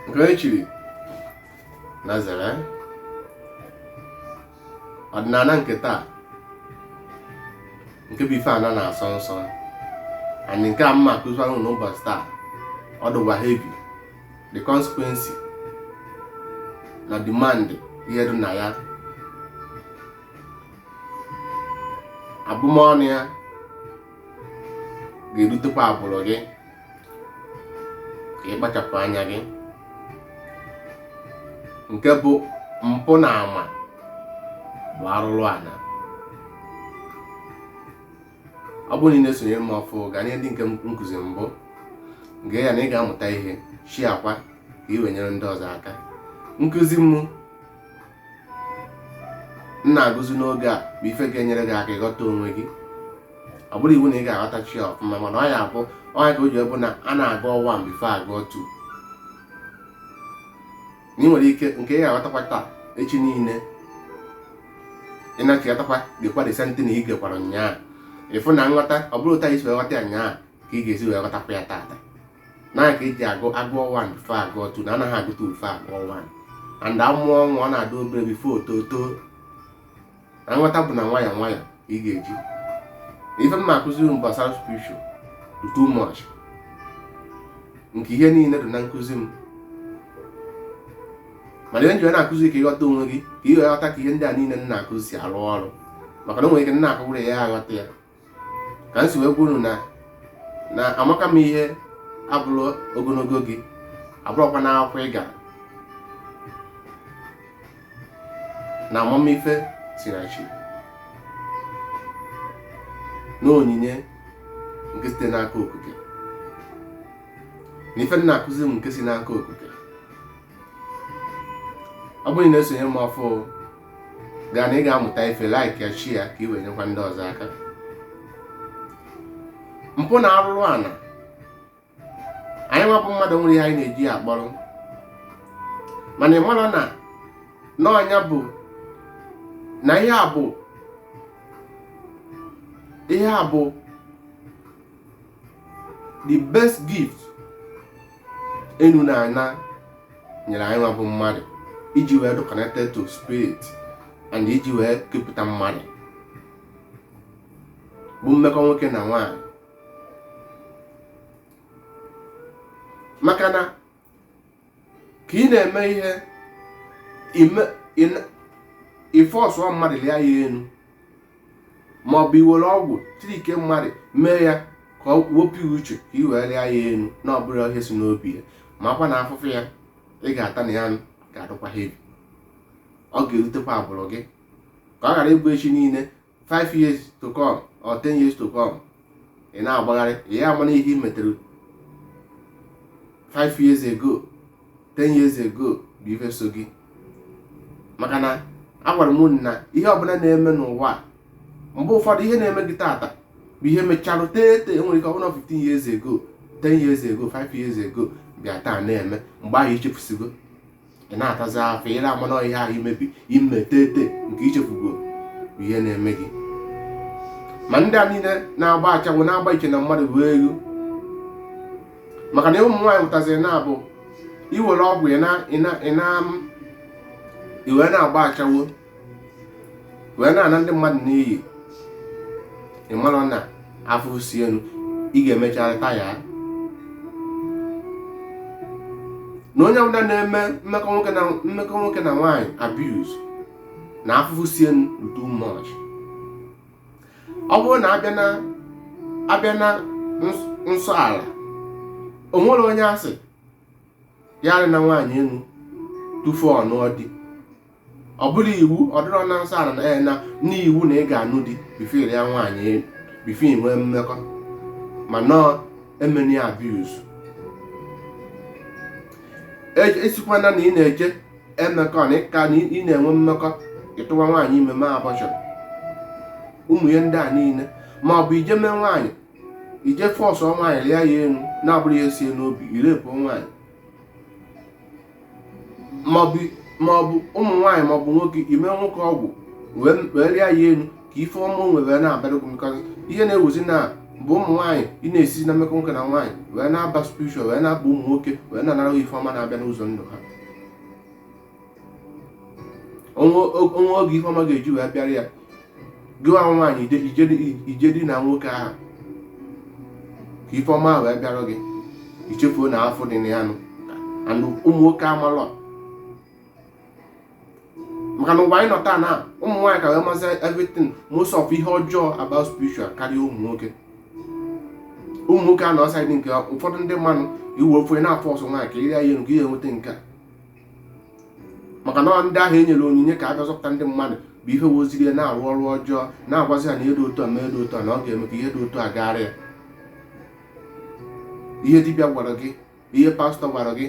nke echiri na zere ọdịnala nke taa nke bụ ife ana na-asọ nsọ and nke a m ma-akụzi ahụ n'ụbọchị taa ọ dịkwa heavy the consequence na demand ihe dị na ya abụmọnụ ya ga-erutekwa agbụrụ gị ka ị kpachapụ anya gị nke bụ mpụ na ma ọ bụ arụrụ ana ọ bụrụ na ị na-esonye m ọfụụ gaa nee ndị nke nkụzi mbụ gee ya na ị ga-amụta ihe sharekwa ka ị wee nyere ndị ọzọ aka nkụzi m m na-akụzi n'oge a bụ ife ga-enyere gị aka ịghọta onwe gị ọ bụrọ iwu na ị ga-aghọtacha ya ọfụma mana ọ ya abụ ọ nya ka o ji bụ na a na-agụ 1 before agụọ 2 na ị nwere ike nke ị ga-aghọtakwa taa echi niile ị nachiatakwa gekwa the same thing ị gekwara nyaa ị fụ na nghọta ọ bụrọ otu a i si wee ghọta ya nyaa ka ị ga-esi wee ghọtakwa ya taata na ka eji agụ agụọ 1 before agụọ 2 na anaghị agụ 2 before agụọ 1 and amụọ nwa ọ na-adị obere before o too na nghọta bụ na nwayọ nwayọ ị ga-eji ife m na-akụziri m gbasara spiritual dị too much nke ihe niile dị na nkụzi m mana ihe m ji wee na-akụzi ka ị ghọta onwe gị ka ị ghọta ka ihe ndị a niile m na-akụzi si arụ ọrụ maka na o nwere ike na-akụgwụrụ ya aghọta ya ka m si wee gwa unu na na amaka m ihe abụrọ ogologo gị abụrọkwa na akwụkwọ ị gara na amamife si na chi na onyinye nke site n'aka okike na ife m na-akụzi nke si n'aka okike ọ bụrụ na ị na-esonye m ọfụụ gaa na ị ga-amụta ife like ya share ya ka ị wee nyekwa ndị ọzọ aka mpụ na arụrụ ana anyị nwa bụ mmadụ nwere ihe anyị na-eji ya akpọrọ mana ị mara na na ọ nya bụ na ihe a bụ ihe a bụ the best gift enu na ana nyere anyị nwa bụ mmadụ iji wee dị connected to spirit and iji wee kepụta mmadụ bụ mmekọ nwoke na nwaanyị maka na ka ị na-eme ihe ị force-ụọ mmadụ lia ya enu ma ọ bụ i were ọgwụ trickie mmadụ mee ya ka ọ wepụ uche ka i wee lia ya enu na ọ bụrọ ihe si n'obi ya makwa na afụfụ ya ị ga-ata na ya ga-adụkwa heavy ọ ga-erutekwa agbụrụ gị ka ọ ghara ịbụ echi niile 5 years to come or 10 years to come ị na-agbagharị ị ya-ama na ihe i metere 5 years ago 10 years ago bụ ife so gị maka na agwara m na ihe ọbụla na-eme n'ụwa mgbe ụfọdụ ihe na-eme gị taata bụ ihe mecharụ tete e nwere ike ọ bụrụ 15 years ago 10 years ago 5 years ago bịa taa na-eme mgbe ahụ i chefusigo ị na-atazi afụfụ ị ya-ama na ihe ahụ i mebi i me tete nke i chefugo bụ ihe na-eme gị ma ndị a niile na-agba ashawo na-agba iche na mmadụ bụ ego maka na ụmụ nwaanyị pụtaziri na-abụ i were ọgwụ i wee na-agba ashawo wee na-ana ndị mmadụ n'iyi ị mara na afụfụ si enu ị ga-emecharị taa ya na onye ọbụla na-eme mmekọ nwoke na nwaanyị abuse na afụfụ si enu bụ too much ọ bụrụ na a bịa na a bịa na ns- nsọ ala o nwerọ onye a sị ya elina nwaanyị enu tufu ọ nụọ di ọ bụrọ iwu ọ dịrọ na nsọ ala na ya na n'iwu na ị ga-anụ di before i ria nwaanyị enu before i nwee mmekọ mana emena ya abuse esikwana na ị na-eje emekọ na ịka na ị na-enwe mmekọ ị tụwa nwaanyị ime mee abortion ụmụ ihe ndị a niile ma ọ bụ ije mee nwaanyị ije force-ụọ nwaanyị rịa ya enu na-abụrọ ihe si ya n'obi ị rape-ụọ nwaanyị maọbụ maọbụ ụmụ nwaanyị maọbụ nwoke i mee nwoke ọgwụ wee rịa ya enu ka ife ọma o nwere wee na-abịara gị because ihe na-ewuzi now bụ ụmụ nwaanyị ị na-esi na mmekọ nwoke na nwaanyị wee na-aba spiritual wee na-aba ụmụ nwoke wee na-anara ha ife ọma na-abịa n'ụzọ ndụ ha o nwee o nwee oge ife ọma ga-eji wee bịara ya gị nwa nwaanyị i jee dina nwoke ahụ ka ife ọma wee bịara gị i chefuo na afụfụ dị na ya nụ and ụmụ nwoke amalọ maka na ụwa anyị nọ taa na ụmụ nwaanyị ka wee mazi everything most of ihe ọjọọ about spiritual karịa ụmụ nwoke ụmụ nwoke a nọ side nke ụfọdụ ndị mmadụ iwe ofe na-aforce nwaanyị ka i ria ya enu ka i wee nweta nke a maka na ndị ahụ e nyere onyinye ka ha bịa zọpụta ndị mmadụ bụ ihe weziri ya na-arụ ọrụ ọjọọ na-agwazi ha na ihe dị otu a ma ihe dị otu a na ọ ga-eme ka ihe dị otu a gaara ya ihe dibịa gwara gị ihe pastọ gwara gị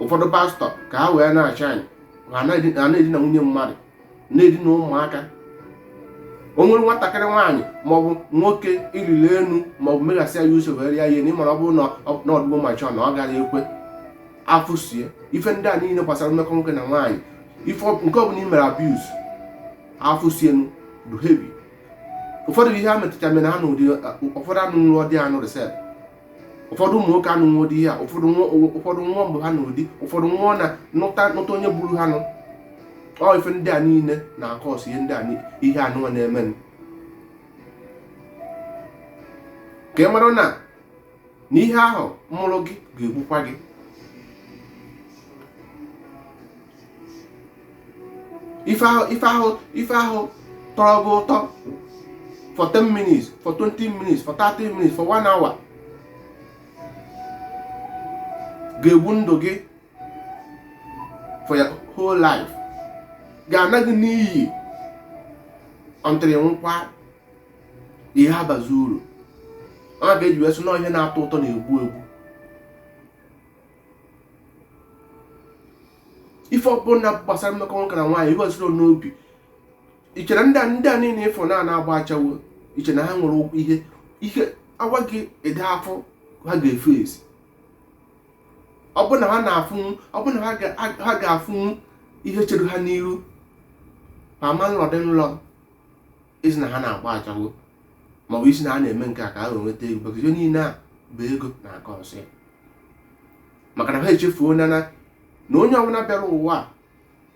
ụfọdụ pastọ ka ha wee na-achị anyị ha na-edina nwunye mmadụ na-edina ụmụaka o nwere nwatakịrị nwaanyị maọbụ nwoke i riri elu maọbụ meghasị ya usoro eri ya ihe na ị mara ọ bụrụ na ọ dịgo mature na ọ gara ekwe afụsie ife ndị a niile gbasara mmekọ nwoke na nwaanyị ife nke ọbụla i mere abuse afụsienu dị heavy ụfọdụ ihe a metụta mere ha na ụdị ụfọdụ anụ nrọ di anụ resep ụfọdụ ụmụ nwoke anụnwa dị ya ụfọdụ nwa mgbe ha nụ di ụfọdụ nwa na nụta nụta onye gburu ha nụ ọ ife ndị a niile na-acause ihe ndị a ihe anụnwa na-eme ka ị mara na na ihe ahụ mụrụ gị ga-egbukwa gị ife ahụ ife ahụ ife ahụ tọrọ gị ụtọ for 10 minutes for 20 minutes for 30 minutes for 1 hour ga-egbu ndụ gị for your whole life ga-ana gị n'iyi until nkwa ihe abazi uru ọ ya e ji wee sị na ihe na-atọ ụtọ na-egbu egbu ife ọbụla gbasara mmekọ nwoke na nwaanyị ihe ọzụrụ n'obi i che na ndị a ndị a niile ị fụ na na-agba ashawo i che na ha nwere ụkwụ ihe ihe a gwa gị ụdị afụ ha ga-eface ọ bụ na ha na-afụnwu ọ bụ na ha ga- ha- ha ga-afụnwu ihe chere ha n'iru ma ma nọdụ n'ụlọ ị sị na ha na-agba ashawo ma ọ bụ ị sị na ha na-eme nke a ka ha wee nweta ego maka ihe niile a bụ ego na-acause ya maka na ha echefuo na na onye ọbụla bịara ụwa a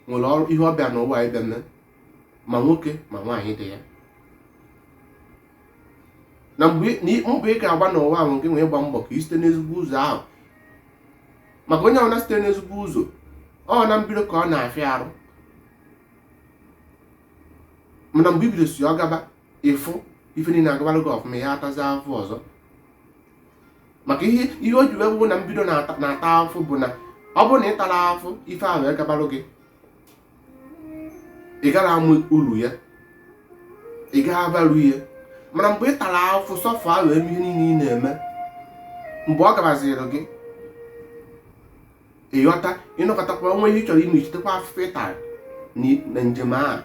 nwere ọrụ ihe ọ bịa n'ụwa ịbịa mee ma nwoke ma nwaanyị dị ya na mgbe mbọ ị ga-agba n'ụwa ahụ nke nwee ịgba mbọ ka ị site n'ezigbo ụzọ ahụ maka onye ọbụla site n'ezigbo ụzọ ọ na mbido ka ọ na-afịa arụ mana mgbe i bidosị ọ gaba ị fụ ife niile agabara gị ọfụma ya atazi afụ ọzọ maka ihe ihe o ji wee bụrụ na mbido na-ata afụ bụ na ọ bụrụ na ị tara afụ ife ahụ agabalụ gị ị gara ama uru ya ị gaghị avalue ya mana mgbe ị tara afụ suffer wee mee ihe niile ị na-eme mgbe ọ gabaziri gị ị ghọta ịnọkọtakwa o nwee ihe ị chọrọ ime i chetekwa afụfụ ị tara na njem ahụ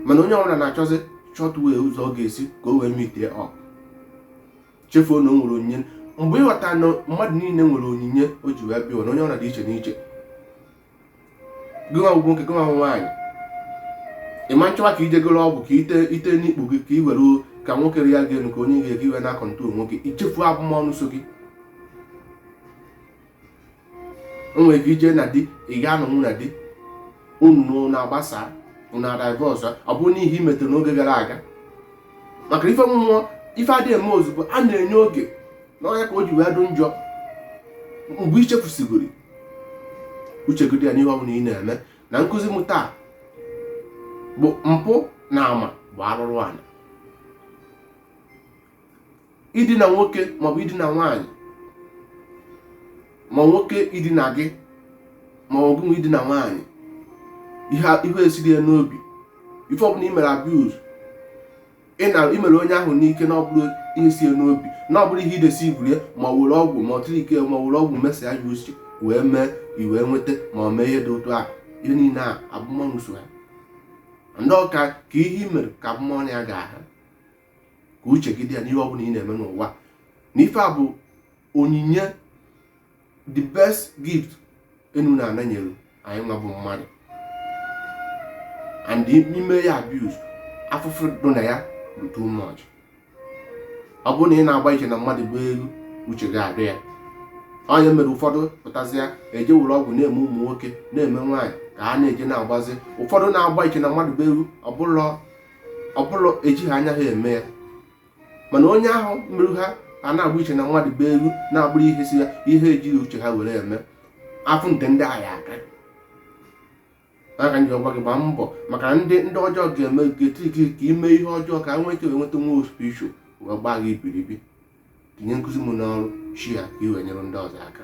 mana onye ọbụla na-achọzi short way ụzọ ọ ga-esi ka o wee mitie ọ chefuo na o nwere onyinye mgbe ị ghọta na mmadụ niile nwere onyinye o ji wee bịa na onye ọbụla dị iche n'iche gịnwa bụ nwoke gịnwa bụ nwaanyị ị ma chọwa ka i jegoro ọgwụ ka i tee n'ikpu gị ka i were ka nwoke ya ga-enu ka o nye gị ike i wee na-acontrol nwoke i chefuo abụmọnụ so gị i nwere ike i jee na di ị ga anọnwu na di unu na-agbasa unu adivorce ọ bụrụ n'ihe i metere n'oge gara aga maka na ife mmụọ ife adịghị eme ozugbo a na-enye oge na ọ ya ka o ji wee dụ njọ mgbe i chefusigoro uche gị dị ya n'ihe ọ bụla ị na-eme na nkụzi m taa bụ mpụ na ama bụ arụrụ ala idina nwoke maọbụ idina nwaanyị ma nwoke idina gị ma ọ gịnwa idina nwaanyị ihe esiro ya n'obi ife ọbụla i mere abuse i mere onye ahụ n'ike na ọ bụrọ ihe si ya n'obi na ọ bụrụ ihe i deceiveuru ya ma were ọgwụ ma ọ trick ma were ọgwụ mesia ya uche wee mee i wee nweta ma ọ mee ihe dị otu ahụ ihe niile a abụmọnụ so ha and ọ ka ka ihe i mere ka abụmọnụ ya ga-aha ka uche gị dị ya n'ihe ọ bụla ị na-eme n'ụwa na ife a bụ onyinye the best gift enu na ana nyere anyịnwa bụ mmadụ and i mee ya abuse afụfụ dị na ya bụ too much ọ bụrụ na ị na-agba iche na mmadụ bụ elu uche gị adị ya onye mere ụfọdụ pụtazịa eje were ọgwụ na-eme ụmụ nwoke na-eme nwaanyị ka ha na-eje na-agbazi ụfọdụ na-agba iche na mmadụ bụ elu ọ bụrụ ọ bụrụ ejighị anya ha eme ya mana onye ahụ mere ha a na-agba iche na mmadụ be elu na abụrọ ihe si ya ihe ejighị uche ha were eme afụfụ nke ndị a ga-aka ọ ka m ji agwa gị gbaa mbọ maka ndị ndị ọjọọ ga-eme ga-eti gị ka i mee ihe ọjọọ ka nwee ike nweta nwa spiritual wee gbaa gị ibiribi tinye nkụzi m n'ọrụ share ya ka i wee nyere ndị ọzọ aka